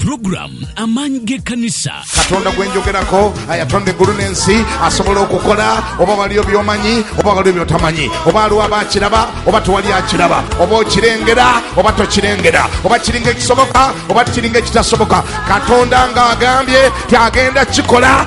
program amaanyi g'ekkanisa katonda gwe njogerako ayatonda eggulu n'ensi asobola okukola oba waliyo byomanyi oba waliyo byotamanyi oba aliwo aba akiraba oba tewali akiraba oba okirengera oba tokirengera oba kiringa ekisoboka oba tikiringa ekitasoboka katonda ng'agambye ti agenda kikola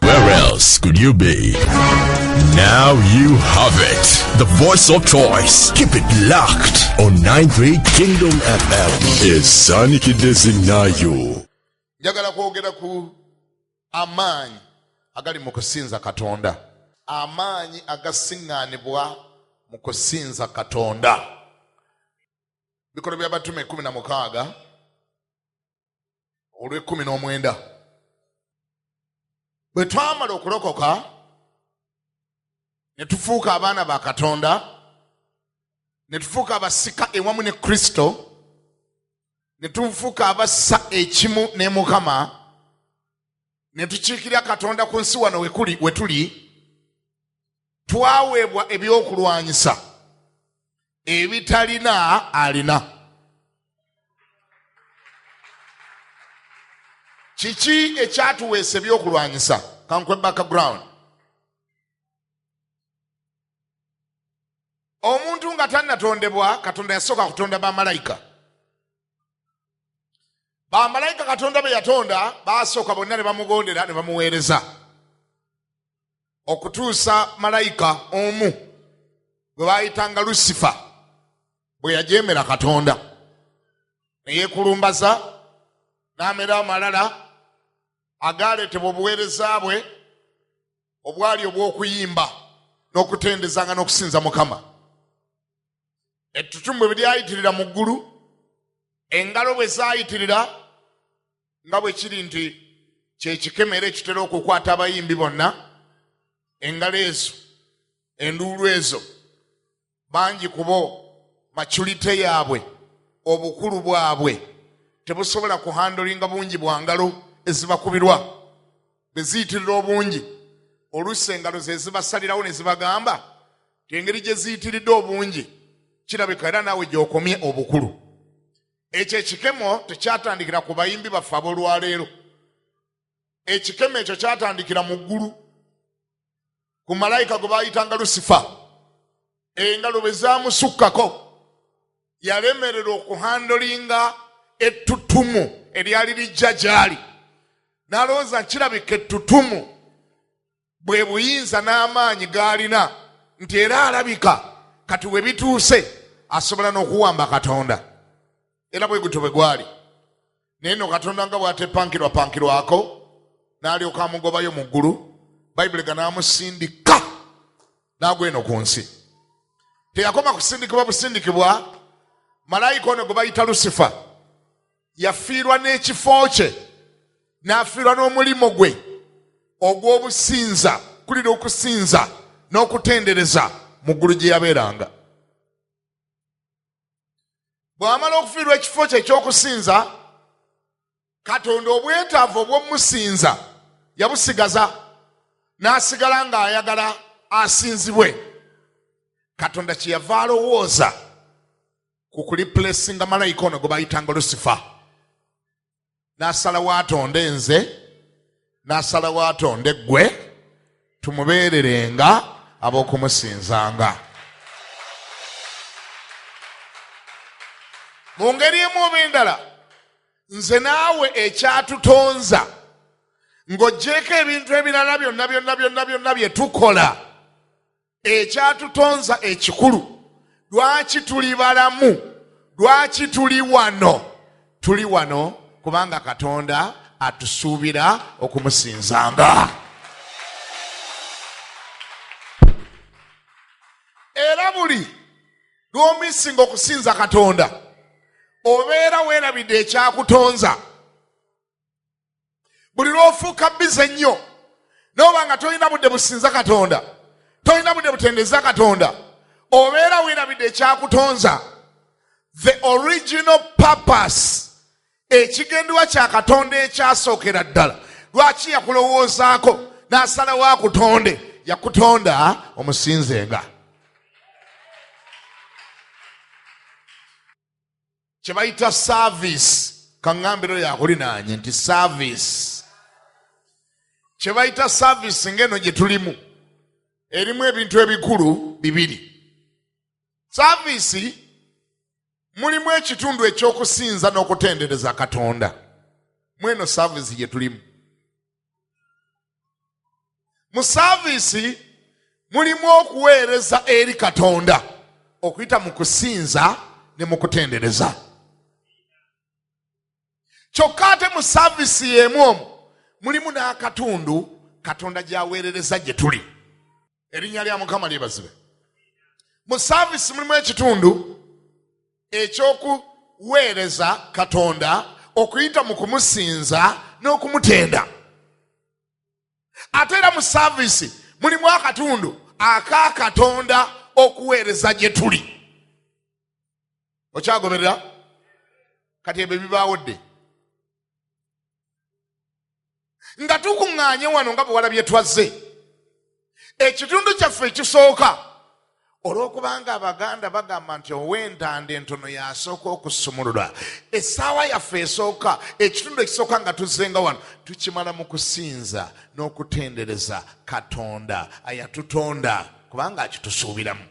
Where else could you be? Now you have it. The voice of choice. Keep it locked on 93 Kingdom FM. Esanikidde zinnayo. Njagala kwogera ku amaanyi agali mu kusinza Katonda. Amaanyi agasiŋŋaanibwa mu kusinza Katonda. Bikolwa by'abatume kumi na mukaaga olw'ekkumi n'omwenda bwe twamala okulokoka ne tufuuka abaana ba katonda ne tufuuka abasika ewamu ne kristo ne tufuuka abassa ekimu ne mukama ne tukiikirira katonda ku nsi wano wekuli we tuli twaweebwa ebyokulwanyisa ebitalina alina kiki ekyatuweesa ebyokulwanyisa kankwe background omuntu nga tannatondebwa katonda yasooka kutonda bamalayika bamalayika katonda be yatonda baasooka bonna ne bamugondera ne bamuweereza okutuusa malayika omu gwe baayitanga lusifa bwe yajeemera katonda ne yeekulumbaza n'amera amalala agaaleetebwa obuweereza bwe obwali obw'okuyimba n'okutendezanga n'okusinza mukama ettutumu bwe lyayitirira mu ggulu engalo bwe zaayitirira nga bwe kiri nti kyekikema era ekitera okukwata abayimbi bonna engalo ezo enduulu ezo bangi ku bo maculite yaabwe obukulu bwabwe tebusobola kuhandolinga bungi bwa ngalo ezibakubirwa bwe ziyitirira obungi oluusi engalo ze zibasalirawo ne zibagamba ti engeri gye ziyitiridde obungi kirabika era naawe gy'okomye obukulu ekyo ekikemo tekyatandikira ku bayimbi baffe ab'olwaleero ekikemo ekyo kyatandikira mu ggulu ku malayika gwe baayitanga lusifa engalo bwe zaamusukkako yalemerera okuhandolinga ettutumu eryali lijja gy'ali n'alowooza nkirabika ettutumu bwe buyinza n'amaanyi g'alina nti era alabika kati we bituuse asobola n'okuwamba katonda era bwe gutyo bwe gwali naye no katonda nga bwatepankirwapankirwako n'alyoka amugobayo mu ggulu bayibuli ga n'amusindika n'agwa eno ku nsi teyakoma kusindikibwa busindikibwa malayika ono gwe bayita lusifa yafiirwa n'ekifo kye n'afiirwa n'omulimu gwe ogw'obusinza kulira okusinza n'okutendereza mu ggulu gye yabeeranga bw'amala okufiirwa ekifo kye ekyokusinza katonda obwetaavu obw'omusinza yabusigaza n'asigala ng'ayagala asinzibwe katonda kyeyava alowooza ku kulipulesinga malayika ono gwe bayitanga lusifa n'asalawo atonde nze n'asalawo atonde ggwe tumubeererenga ab'okumusinzanga mu ngeri emu oba endala nze naawe ekyatutonza ng'ogyeko ebintu ebirala byonna byonna byonna byonna bye tukola ekyatutonza ekikulu lwaki tuli balamu lwaki tuli wano tuli wano kubanga katonda atusuubira okumusinzanga era buli lwomisinga okusinza katonda obeera weerabidde ekyakutonza buli lwofuuka bize nnyo noba nga tolina budde businza katonda tolina budde butendeza katonda obeera werabidde ekyakutonza the original purpose ekigenderwa kya katonda ekyasookera ddala lwaki yakulowoozaako n'asalawo akutonde yakutonda omusinzenga kye bayita saaviisi kaŋŋambiro yakulinaanye nti saaviisi kye bayita saaviisi ng'eno gye tulimu erimu ebintu ebikulu bibiri saaviisi mulimu ekitundu eky'okusinza n'okutendereza katonda mweno saaviisi gye tulimu mu saaviisi mulimu okuweereza eri katonda okuyita mu kusinza ne mu kutendereza kyokka ate mu saaviisi y'emu omu mulimu n'akatundu katonda gy'aweerereza gye tuli erinnya lya mukama lyebazibe mu saavisi mulimu ekitundu ekyokuweereza katonda okuyita mu kumusinza n'okumutenda ate era mu saavisi mulimu akatundu aka katonda okuweereza gye tuli okyagoberera kati ebyo bibaawo dde nga tukuŋŋaanye wano nga bwewalabye twazze ekitundu kyaffe ekisooka olw'okubanga abaganda bagamba nti ow'entanda entono yasooka okusumulula essaawa yaffe esooka ekitundu ekisooka nga tuzzenga wano tukimala mu kusinza n'okutendereza katonda ayatutonda kubanga akitusuubiramu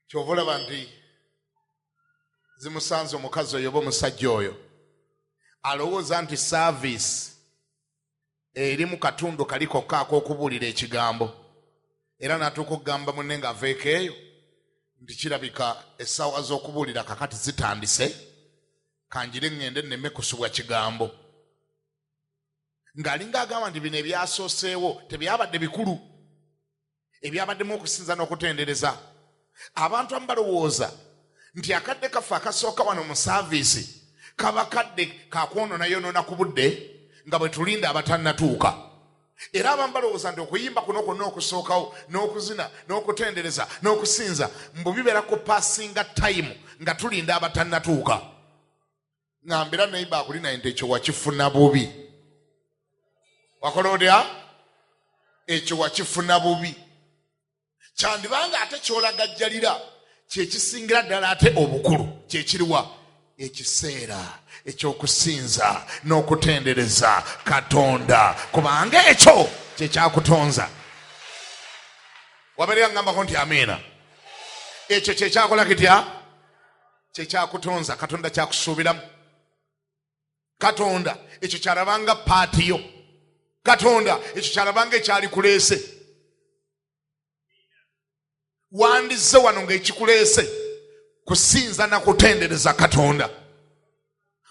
kyova olaba nti zimusanze omukazi oyo oba omusajja oyo alowooza nti saaviisi eri mu katundu kali kokka ak'okubuulira ekigambo era n'atuuka okugamba munne ng'aveeko eyo nti kirabika essaawa z'okubuulira kakati zitandise kanjire ŋŋende nneme kusubwa kigambo ng'alinga agamba nti bino ebyasooseewo tebyabadde bikulu ebyabaddemu okusinza n'okutendereza abantu amu balowooza nti akadde kaffe akasooka wano mu saaviisi kaba kadde kakwononayonoona ku budde nga bwe tulinda abatannatuuka era abamu balowooza nti okuyimba kuno kwonna okusookawo n'okuzina n'okutendereza n'okusinza mbu bibeera ku passinga tayimu nga tulinda abatannatuuka ngambira naiba akuli naye nti ekyo wakifuna bubi wakola otya ekyo wakifuna bubi kyandibanga ate kyolagajjalira kyekisingira ddala ate obukulu kyekiriwa ekiseera ekyokusinza n'okutendereza katonda kubanga ekyo kyekyakutonza wabeera ngambako nti amiina ekyo kyekyakola kitya kyekyakutonza katonda kyakusuubiramu katonda ekyo kyalabanga paati yo katonda ekyo kyalabanga ekyali kuleese wandizze wano ngaekikuleese kusinza na kutendereza katonda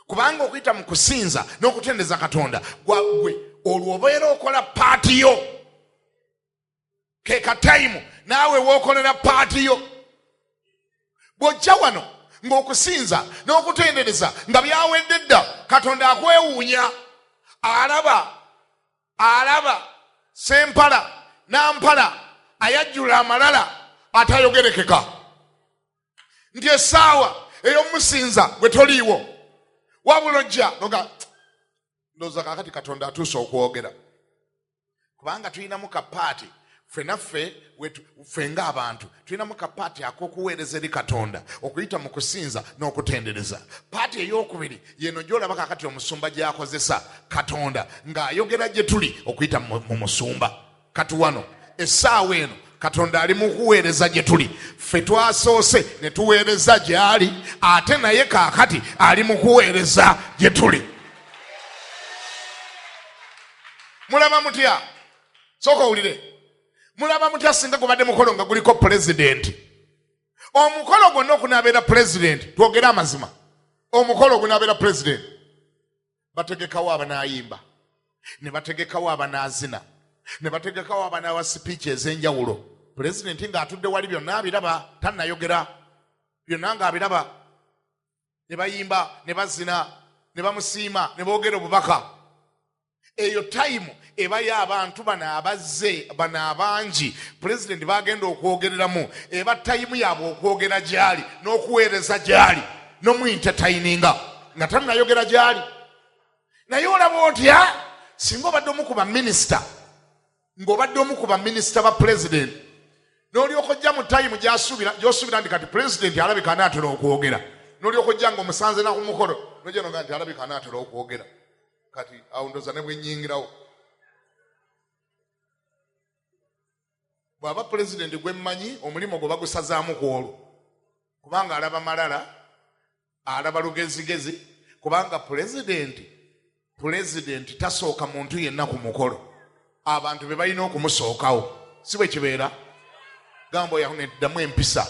kubanga okuyita mu kusinza n'okutendereza katonda gwagwe olwo obeera okola paati yo ke katayimu naawe wookolera paati yo bw'ojja wano ng'okusinza n'okutendereza nga byawedde dda katonda akwewuunya alaba alaba sempala nampala ayajjula amalala atayogerekeka nti essaawa ey'omusinza bwe toliiwo wabula ojja noga ndooza kakati katonda atuuse okwogera kubanga tulinamu kapaati fenaffe ffe ngaabantu tulinamu kapaati akokuweereza eri katonda okuyita mu kusinza n'okutendereza paati eyokubiri yeno gyolaba kakati omusumba gyakozesa katonda ng'ayogera gye tuli okuyita mu musumba kati wano essaawa eno katonda ali mukuweereza gye tuli ffe twasoose ne tuweereza gy'ali ate naye kaakati ali mukuweereza gye tuli mulaba mutya soka owulire mulaba mutya singa gubadde mukolo nga guliko pulezidenti omukolo gwonna okunabeera pulezidenti twogere amazima omukolo ogunabeera pulezidenti bategekawo abanayimba ne bategekawo abanazina ne bategekawo abanawa sipiiki ez'enjawulo pulezidenti ng'atudde wali byonna abiraba tanayogera byonna ng'abiraba ne bayimba ne bazina ne bamusiima ne boogera obubaka eyo tayimu ebayo abantu bano abazze bano abangi pulezidenti bagenda okwogereramu eba tayimu yaabwe okwogera gyali n'okuweereza gyali nomuintetayininga nga tanayogera gyali naye olaba otya singa obadde omu ku baminisita ng'obadde omu ku baminisita ba pulezidenti n'olyoka ojja mu tayimu gy'osuubira nti kati pulezidenti alabika anaatera okwogera n'olyoka ojja nga omusanze na ku mukolo nojanoga nti alabika anaatera okwogera kati awo ndoza ne bwenyingirawo bw'aba pulezidenti gwe mmanyi omulimu gwe bagusazaamu ku olwo kubanga alaba malala alaba lugezigezi kubanga pulezidenti pulezidenti tasooka muntu yenna ku mukolo abantu be balina okumusookawo si bwe kibeera gamba oyaho neddamu empisa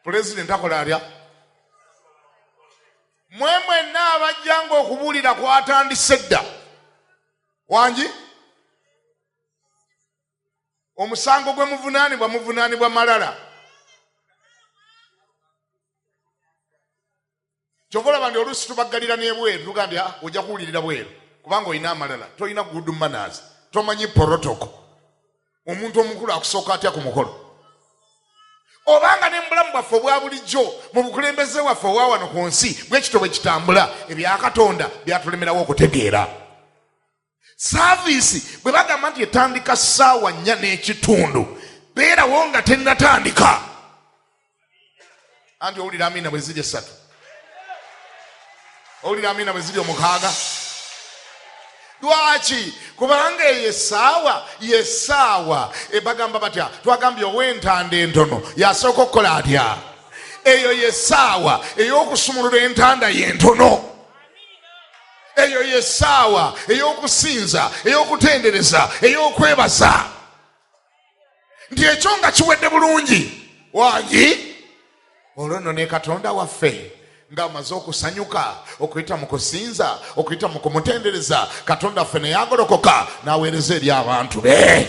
pulezidenti akola atya mwe mwenna abajjanga okubuulira kwatandise dda wangi omusango gwe muvunaanibwa muvunaanibwa malala kyova olaba nti oluusi tubaggalira n'ebweru tugambye ah, ojja kuwulirira bweru kubanga olina amalala tolina good manners tomanyi porotoko omuntu omukulu akusooka atya ku mukolo obanga ne mubulamu bwaffe obwa bulijjo mu bukulembeze waffe owa wano ku nsi bwekito bwe kitambula ebya katonda byatulemerawo okutegeera saaviisi bwe bagamba nti etandika ssaawa nnya n'ekitundu beerawo nga tennatandika anti owulira amiina bwe ziri essatu owulira amiina bwe ziri omukaaga lwaki kubanga eyo essaawa yessaawa ebagamba batya twagambye ow'entanda entono yasooka okukola atya eyo yessaawa ey'okusumulula entanda y'entono eyo yesaawa eyokusinza eyokutendereza eyokwebaza nti ekyo nga kiwedde bulungi wangi olwo nno ne katonda waffe ng'amaze okusanyuka okuyita mu kusinza okuyita mu kumutendereza katonda ffe neyagolokoka n'aweereza eri abantu be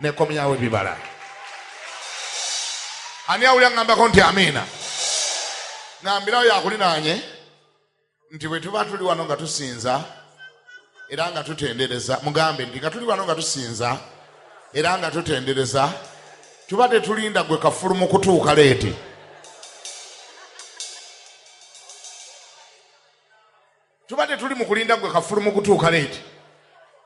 nekomyawo ebibala ani awulira ngambako nti amiina ngambirawo yakulinaanye nti bwe tuba tuli wano nga tusinza era nga tutendereza mugambe nti nga tuli wano nga tusinza era nga tutendereza tuba tetulinda gwe kafulu mu kutuuka leeti tuba tetuli mu kulinda gwe kafulu mu kutuuka leeti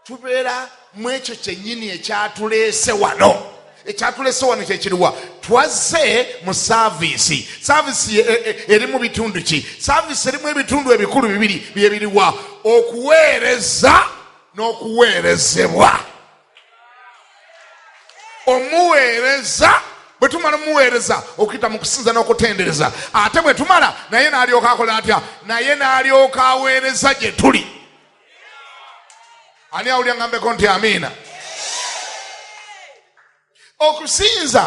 tubeera mu ekyo kyennyini ekyatuleese wano ekyatuleese wano kyekiriwa twazze mu saaviisi saaviisi e, e, eri mu bitundu ki saaviisi erimu ebitundu ebikulu bibiri byebiriwa okuweereza n'okuweerezebwa omuweereza bwe tumala omuweereza okuyita mu kusinza n'okutendereza ate bwe tumala naye n'alyoka akola atya naye n'alyoka aweereza gye tuli ani awulya ngambeko nti amiina okusinza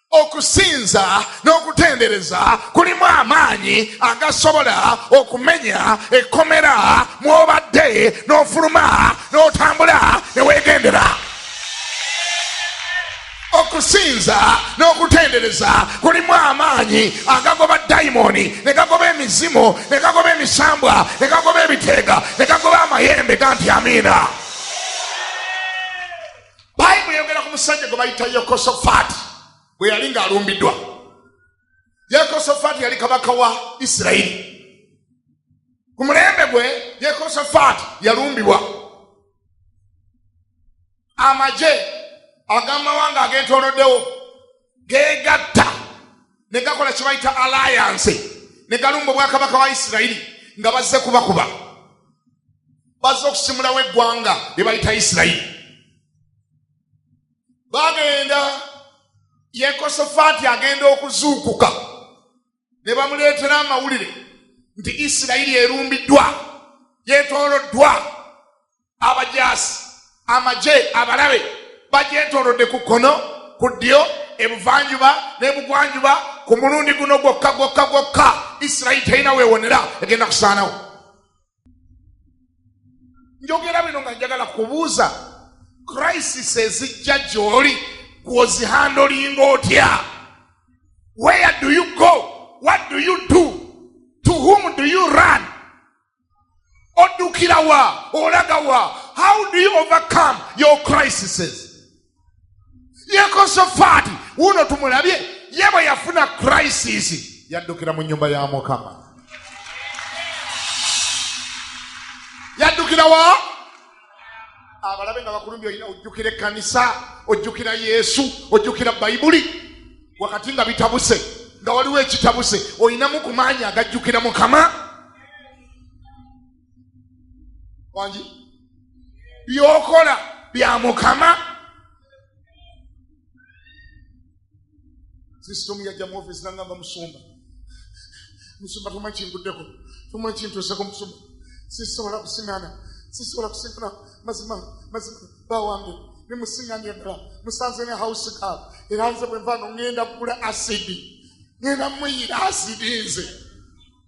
okusinza n'okutendereza kulimu amaanyi agasobola okumenya ekkomera mw'obadde n'ofuluma n'otambula ne weegendera okusinza n'okutendereza kulimu amaanyi agagoba dayimooni ne gagoba emizimu ne gagoba emisambwa ne gagoba ebiteega ne gagoba amayembe ganti amiina bayibuli eyogera ku musajja gwe bayita yekosofaati bwe yali ng'alumbiddwa yekosofaati yali kabaka wa isirayiri ku mulembe gwe yekosofaati yalumbibwa amagye agamawanga ageetooloddewo geegatta ne gakola kye bayita alayanse ne galumba obwakabaka wa isirayiri nga bazze kubakuba bazze okusimulawo eggwanga lye bayita isirayiri bagenda yekosofaati agenda okuzuukuka ne bamuleetera amawulire nti isirayiri erumbiddwa gyetooloddwa abajaasi amagye abalabe bagyetoolodde ku kkono ku ddyo ebuvanjuba n'ebugwanjuba ku mulundi guno gwokka gwokka gwokka isirayiri terina weewonera egenda kusaanawo njogera bino nga njagala kubuuza crisis ezijja gyoli kwozihandolinga otya where do you go what do you do to whom do you run odukira wa olaga wa how do you overcome your crises yekosofaati wuuno tumulabye ye bwe yafuna crisis yaddukira mu nyumba ya mukama yaddukira wa abalabe nga bakulumbi olina ojjukira ekkanisa ojjukira yesu ojjukira bayibuli wakati nga bitabuse nga waliwo ekitabuse olinamu ku maanyi agajjukira mukama wangi byokola bya mukama sisitomu yajja mu ofisi nangamba musumba musumba tuma kinguddeko tuma kintuuseko musumba sisobola kusiŋana sisobola kusiŋana mazima mazima bawange nemusiŋanya eddala musanze ne house gal era nze bwe nva no ŋenda kugula asidi ŋenda muyira asidi nze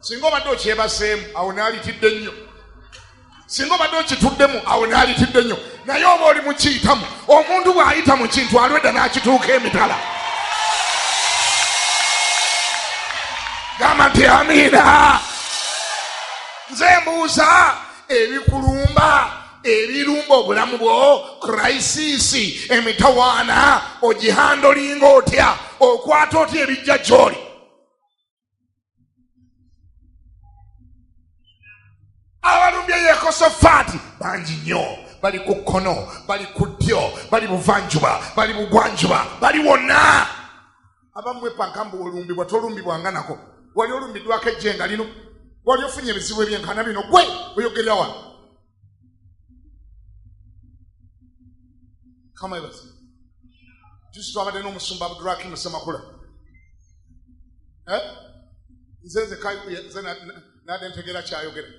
singa obadde okyebaseemu awo naalitidde nnyo singa obadde okituddemu awo naalitidde nnyo naye oba oli mukiyitamu omuntu bw'ayita mu kintu alwedda n'akituuka emitala gamba nti amiina nze mbuuza ebikulumba ebirumba obulamu bwo kuraisisi emitawaana ogihandolinga otya okwata otya ebijja gyoli abalumbye yekosofaati bangi nnyo bali ku kkono bali ku ddyo bali buvanjuba bali bugwanjuba bali wonna abamwe pankambu olumbibwa tolumbibwa nga nako wali olumbiddwako ejjenga lino wali ofunye ebizibu ebyenkana bino gwe oyogerera wano kama ebazi jusi twabadde n'omusumba abduraki musemakula eh? nze nze nade ntegera kyayogera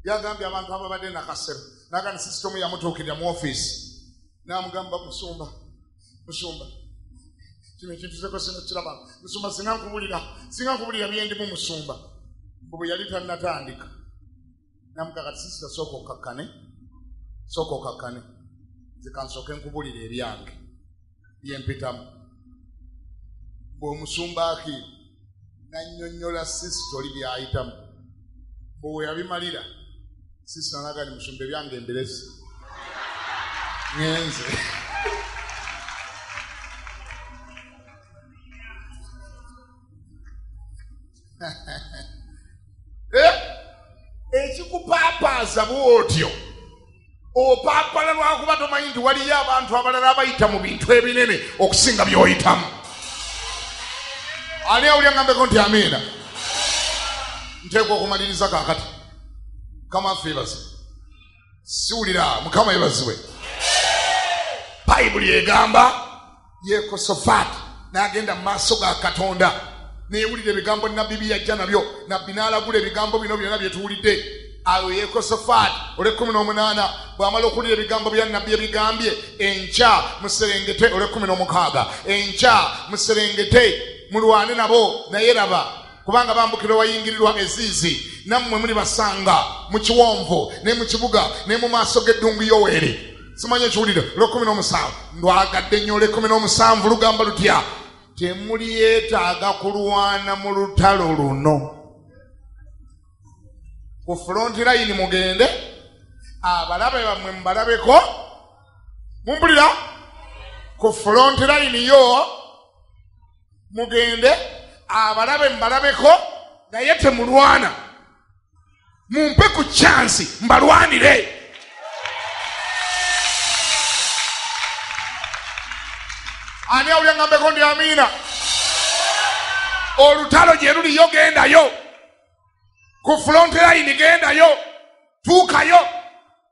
yagambye abantu ababadde nakasero nagani sisitomu yamutuukirira mu ofiisi namugamba musumba musumba kino ekintu zeko sino kiraba musumba singa nkubulira singa nkubulira byendimu musumba mbu bwe yali tannatandika namuga kati sisita sooka okakkane sooka okakkane nze kansooke nkubulira ebyange byempitamu bweomusumba aki nanyonyola sisita oli byayitamu bweweyabimalira sisita naga ni musumba ebyange embiresi ngenze eh? ekikupaapaaza bwotyo opaapala lwakuba tomanyi nti waliyo abantu abalala abayita mu bintu ebinene okusinga byoyitamu ani awulya ngambeko nti amiina nteekwa okumaliriza kakati kama feebase siwulira mukama yebaziwe bayibuli egamba yekosofaati n'agenda mu maaso ga katonda neyewulira ebigambo nabbi byeyajja nabyo nabbi n'alagula ebigambo bino byonna byetuwulidde awo yekosofaati olwekumi n'omunaana bw'amala okuwulira ebigambo bya nabbi ebigambye enkya muserengete olwekumi n'omukaaga enkya muserengete mulwane nabo naye laba kubanga bambukira wayingirirwa eziizi nammwe muli basanga mu kiwonvu ne mu kibuga ne mu maaso g'eddungu yoweeri simanyi ekiwulire lwekumi n'omusanvu ndwagadde nnyo olwekumi n'omusanvu lugamba lutya temuli yeetaaga kulwana mu lutalo luno ku fulonti layini mugende abalabe bammwe mubalabeko mumpulira ku fulonti layini yo mugende abalabe mbalabeko naye temulwana mumpe ku kyansi mbalwanire ani awulyangambeko ndi amiina olutalo gye luliyo gendayo ku fulontilayini gendayo tuukayo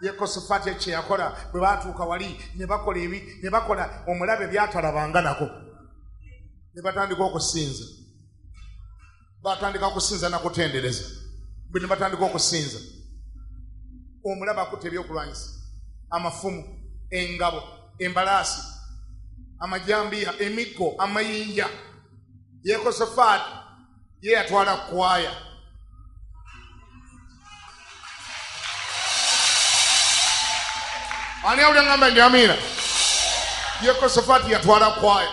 yekosafaati ekyo kyeyakola bwe baatuuka wali ne bakola ebi ne bakola omulabe byatalabanga nako ne batandika okusinza batandika okusinza nakutendereza bwe ne batandika okusinza omulaba akutte ebyokulwanyisa amafumu engabo embalaasi amajambiya emiggo amayinja yekosafaati ye yatwala kwaya ani awulangamba ndi amiina yekosofaati yatwala kwaya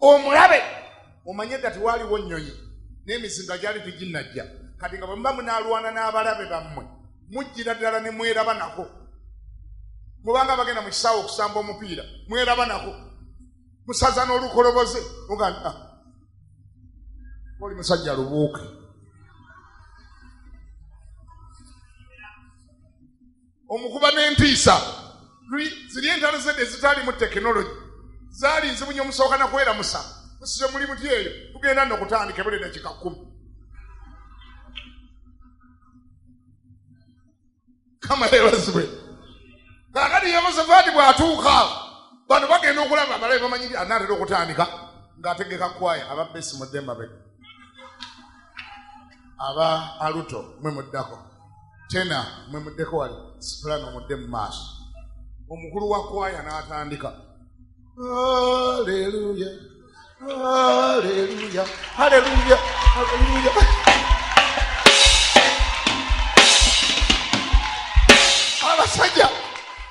omulabe omanye dda tiwaliwo nnyonyi n'emizinga gyali tiginnajja kati nga bwemuba munaalwana n'abalabe bammwe mujjira ddala ne mweraba nako mubanga bagenda mu kisaawe okusamba omupiira mweraba nako musaza n'olukoloboze ogamba ah, oli musajja lubuuke omukuba n'entiisa ziri entalo zedde ezitaalimu tekinologi zaali nzibu nyo omusooka nakweramusa musize muli muti eyo tugenda nokutandika ebuli dakika kumi kama yebazibwe kakati yehosafaati bw'atuuka bano bagenda okulaba abalabe bamanyi nti anaatera okutandika ng'ategeka kwaya aba besi mudde mabega aba aluto mwe muddako tena mwe muddeko wali sipulano mudde mu maaso omukulu wa kwaya n'atandika aleluya Hallelujah. Hallelujah. Hallelujah. abasajja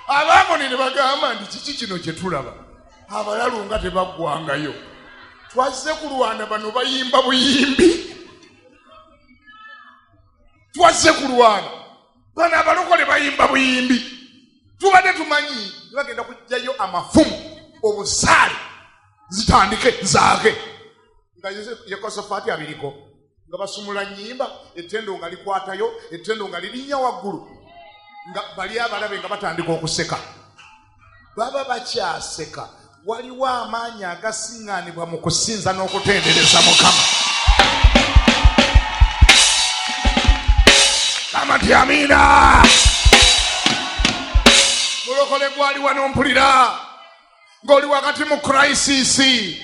abaamoni ne bagamba nti kiki kino kye tulaba abalalu nga tebaggwangayo twazze kulwana bano bayimba buyimbi twazze kulwana bano abalokole bayimba buyimbi tubadde tumanyi tebagenda kujjayo amafumu obusaale zitandike zaake nga yekosofaati abiriko nga basumula nyimba etendo nga likwatayo etendo nga lirinnya waggulu nga bali abalabe nga batandika okuseka baba bakyaseka waliwo amaanyi agasiŋŋaanibwa mu kusinza n'okutendereza mukama kamati amiina mulokole gwali wanompulira ng'oli wakati mu kuraisisi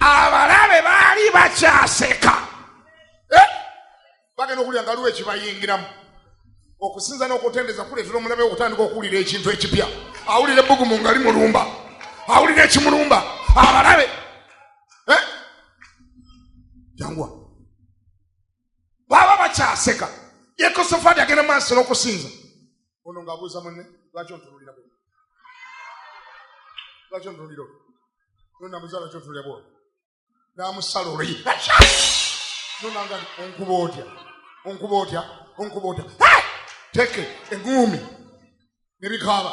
abalabe baali bakyaseka eh? bagenda okuwulira nga liwo ekibayingiramu okusinza n'okutendeza kuleetera omulabe okutandika okuwulira ekintu ekipya awulira ebbugumu nga limulumba awulira ekimulumba abalabe eh? jangwa baba bakyaseka yekosofaati agenda maaso n'okusinza ono ng'abuuza munne lwaki ontunulira bwo lwaki ontunulira olwo no namuza lwaki ontunulira bwo n'amusala olwo nonanga onkuba otya onkuba otya onkuba otya teke eguumi ne bikaaba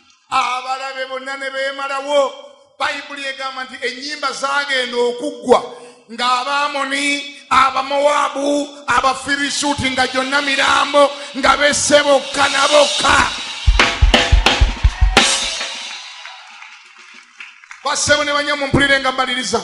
abalabe bonna ne beemalawo bayibuli egamba nti ennyimba zaagenda okuggwa ng'abaamoni abamowaabu abafirisuuti nga gyonna mirambo nga besse bokka na bokka bassebo ne banyamumpulirenga mbaliriza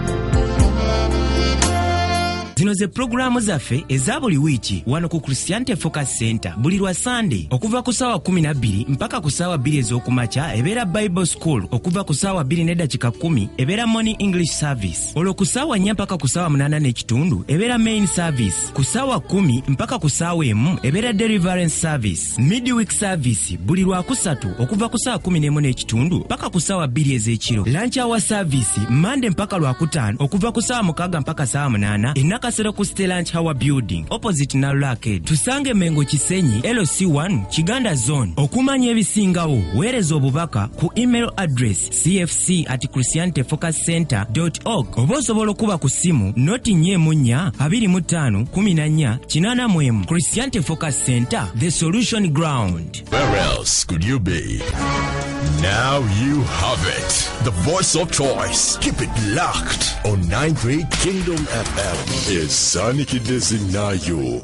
zino ze pulogulaamu zaffe eza buli wiiki wano ku christianity focus center buli lwa sande okuva ku saawa 12 mpaka ku saawa 2 ez'okumakya ebeera bible school okuva ku saawa 2 nedakika 1 ebeera morning english service olwo ku saawa 4 mpaka ku saawa 8 n'ekitundu ebeera main service ku saawa 1 mpaka ku saawa emu ebeera deliverance service midweek service buli lwakusatu okuva ku saa 11 n'ekitundu paka ku saawa bbiri ez'ekiro lanci awa service mande mpaka lwakutaano okuva ku saawa mukaaga mpaka saawa munaana enakasero ku ste lanci hour building opposite nalulaked tusange mengo kisenyi lc1 kiganda zone okumanya ebisingawo weereza obubaka ku email address cfc at christianity focus center org oba osobola okuba ku ssimu noti nya emu nnya abiri mu ttaano kumi na nnya kinaana mu emu christianity focus center the solution ground Where else could you be? Now you have it. The voice of choice. Keep it locked on 93 Kingdom FM. Is Sonic Designayo.